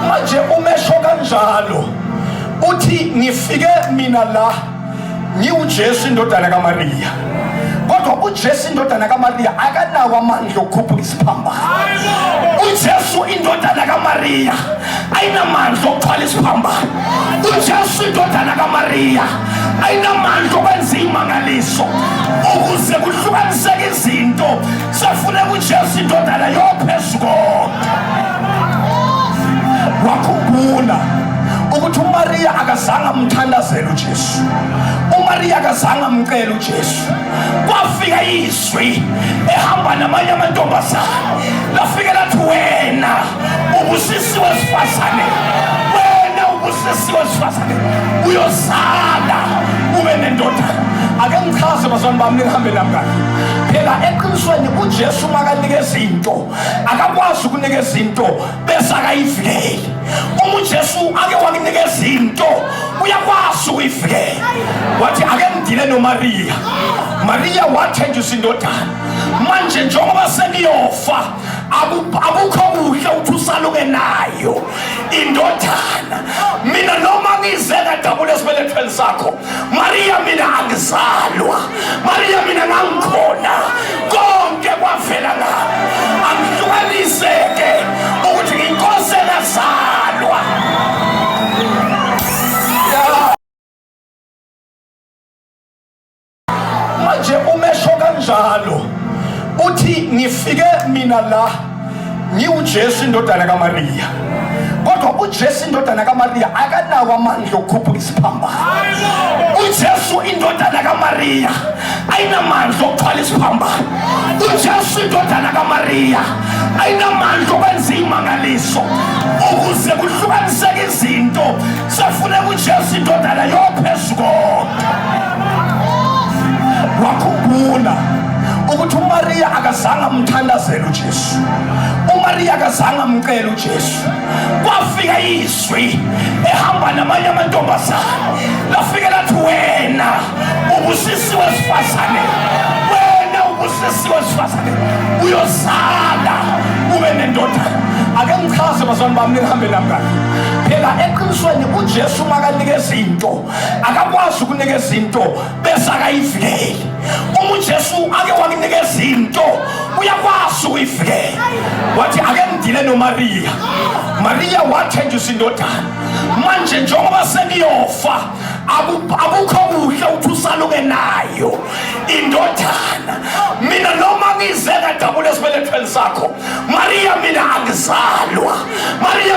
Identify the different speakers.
Speaker 1: manje umesho kanjalo uthi ngifike mina la ngiwuJesu indodana kaMariya kodwa uJesu indodana kaMariya akanawo amandla okukhuphuka isiphambano uJesu indodana kaMariya ayinamandla okuthwala isiphambano uJesu indodana kaMariya ayinamandla okwenza imangaliso ukuze kuhlukaniseke izinto Safuneka uJesu indodana yophezu konke. Wakhumbula ukuthi uMariya akazange amthandazele uJesu. uMariya akazange amcele uJesu. Kwafika izwi ehamba namanye amantombazane. Lafika lathi wena Ubusisiwe sifazane wena, ubusisiwe sifazane, uyozala ube nendoda. Ake ngichaze bazalwane bami, nihambe nami kahle. Phela eqinisweni uJesu makanika izinto akakwazi ukunika izinto bese akayivikeli. Uma uJesu ake wakunika izinto uyakwazi ukuyivikela. Wathi ake ngidile noMariya, Mariya wathenjiswa indodana, manje njengoba seniyofa akukho kuhle uthi usaluke nayo indodana mina noma ngize kadabula esibelethweni sakho mariya mina angizalwa mariya mina ngangikhona konke kwavela ngami angihlukaniseke ukuthi nginkosi engazalwa manje umesho kanjalo uthi ngifike mina la ngiwuJesu indodana kaMariya kodwa uJesu indodana kaMariya akanawo amandla okukhuphuka isiphambano uJesu indodana kaMariya ayinamandla okuthwala isiphambano uJesu indodana kaMariya ayinamandla okwenza imangaliso ukuze kuhlukaniseke izinto Sefune kuJesu indodana yophezu konke. Wakhumbula ukuthi uMariya akazange amthandazele uJesu. uMariya akazange amcele uJesu. Kwafika izwi ehamba namanye amantombazane. Lafike lathi wena Ubusisiwe sifazane. Wena ubusisiwe sifazane. Uyozala ube nendoda. Ake ngichaze bazalwane bami nihambe nami kahle. Phela eqinisweni uJesu makanika izinto akakwazi ukunika izinto bese akayivikeli. Uma uJesu ake wakunika izinto uyakwazi ukuyivikela. Wathi ake ngidile noMariya. Mariya wathenjiswa indodana. Manje njengoba seniyofa akukho kuhle ukuthi usaluke nayo indodana mina noma ngize kadabula esibelethweni sakho mariya mina angizalwa mariya